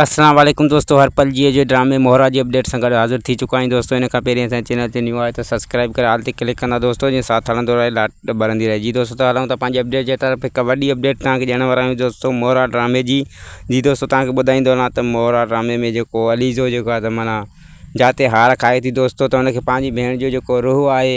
السلام عليڪم دوستو هر پل جيئي جي ڊرامي مهرا جي اپڊيٽ سان گڏ حاضر ٿي چڪا آهيون دوستو ان کان پهرين اسان چينل تي نيو آهي ته سبسڪرائب ڪري آل تي ڪلڪ ڪندا دوستو جيئن ساٿ هلندو رهي لاٽ ٻرندي رهي جي دوستو ته هلون ٿا پنهنجي اپڊيٽ جي طرف هڪ وڏي اپڊيٽ تان کي ڏيڻ وارا آهيون دوستو مهرا ڊرامي جي جي دوستو تان کي ٻڌائيندو هلان ته مهرا ڊرامي ۾ جيڪو عليزو جيڪو آهي ته معنيٰ جاتي هار کائي ٿي دوستو ته ان کي پنهنجي ڀيڻ جو جيڪو روح آهي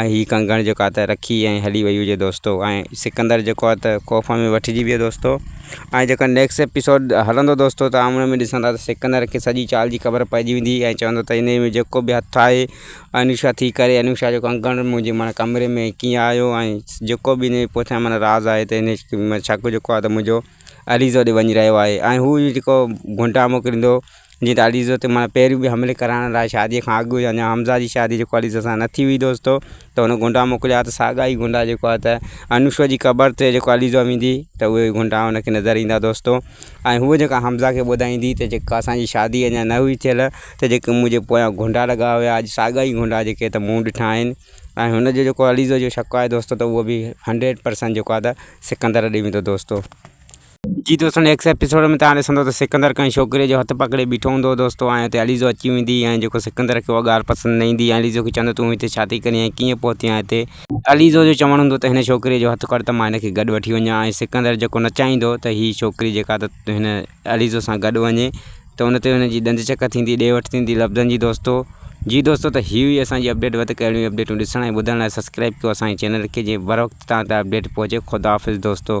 ۽ هي ڪنگڻ جيڪو آ ته رکي ۽ هلي وئي هجي دوستو ۽ سڪندر جيڪو آ ته خوف ۾ وٺجي ويو دوستو ۽ جيڪا نيڪسٽ ايپيسوڊ هلندو دوستو ته آمڙي ۾ ڏسندا ته سڪندر کي سڄي چال جي خبر پئجي ويندي ۽ چوندو ته انهي ۾ جيڪو به هٿ آهي انوشا ٿي ڪري انوشا جو ڪنگڻ منهنجي معنيٰ ڪمري ۾ ڪيئن آيو ۽ جيڪو به انهي پوٺيان معنيٰ راز آهي ته انهي شڪ جيڪو آ ته منهنجو عليز ڏي وڃي رهيو آهي ۽ هو جيڪو گهنٽا موڪليندو جيئن ته عليزو تي مانا پهريون به حملي ڪرائڻ لاء شاديء کان اڳ يا اڃا حمزه جي شادي جيڪو عليزو سان نه ٿي هئي دوستو ته هن غنڊا موڪليا ها ته ساڳا ئي غنڊا جيڪو آهي ته انوشور جي قبر تي جيڪو عليزو ويندي ته اهي غنڊا هن کي نظر ايندا دوستو ۽ هو جيڪا حمزه کي ٻڌائيندي ته جيڪا اسانجي شادي اڃا نه هئي ٿيل ته جيڪي منهنجي پويان غنڊا لڳا هيا اڄ ساڳا ئي غنڊا جيڪي ته مون ڏٺا آهن ۽ هن جو جيڪو عليزو جو شڪ آهي دوستو ته هو به هنڊريڊ پرسنٽ جيڪو آهي ته سڪندر ڏي ويندو دوستو جي دوستو نيڪسٽ ايپيسوڊ ۾ تهان ڏسندو ته سڪندر ڪنهن ڇوڪري جو هٿ پڪڙي بيٺو هوندو دوستو ۽ اتي عليزو اچي ويندي ۽ جيڪو سڪندر کي اها ڳالهه پسند نه ايندي ۽ عليزو کي چوندو تون هتي ڇا ٿي ڪرين ۽ ڪيئن پهتي آهين هتي عليزو جو چوڻ هوندو ته هن ڇوڪري جو هٿ ڪڙ ته مان هن کي گڏ وٺي وڃان ۽ سڪندر جيڪو نه چاهيندو ته هي ڇوڪري جيڪا ته هن عليزو سان گڏ وڃي ته ان تي هن جي ڏند چڪ ٿيندي ڏي وٺ ٿيندي لفظن جي دوستو جي دوستو ته هي هئي اسان جي اپڊيٽ وڌيڪ اهڙيون اپڊيٽون ڏسڻ ۽ ٻڌڻ لاء سبسڪرائب ڪيو اسان جي چينل کي جيئن بروقت تهان تائين اپڊيٽ پهچي خداحافظ دوستو.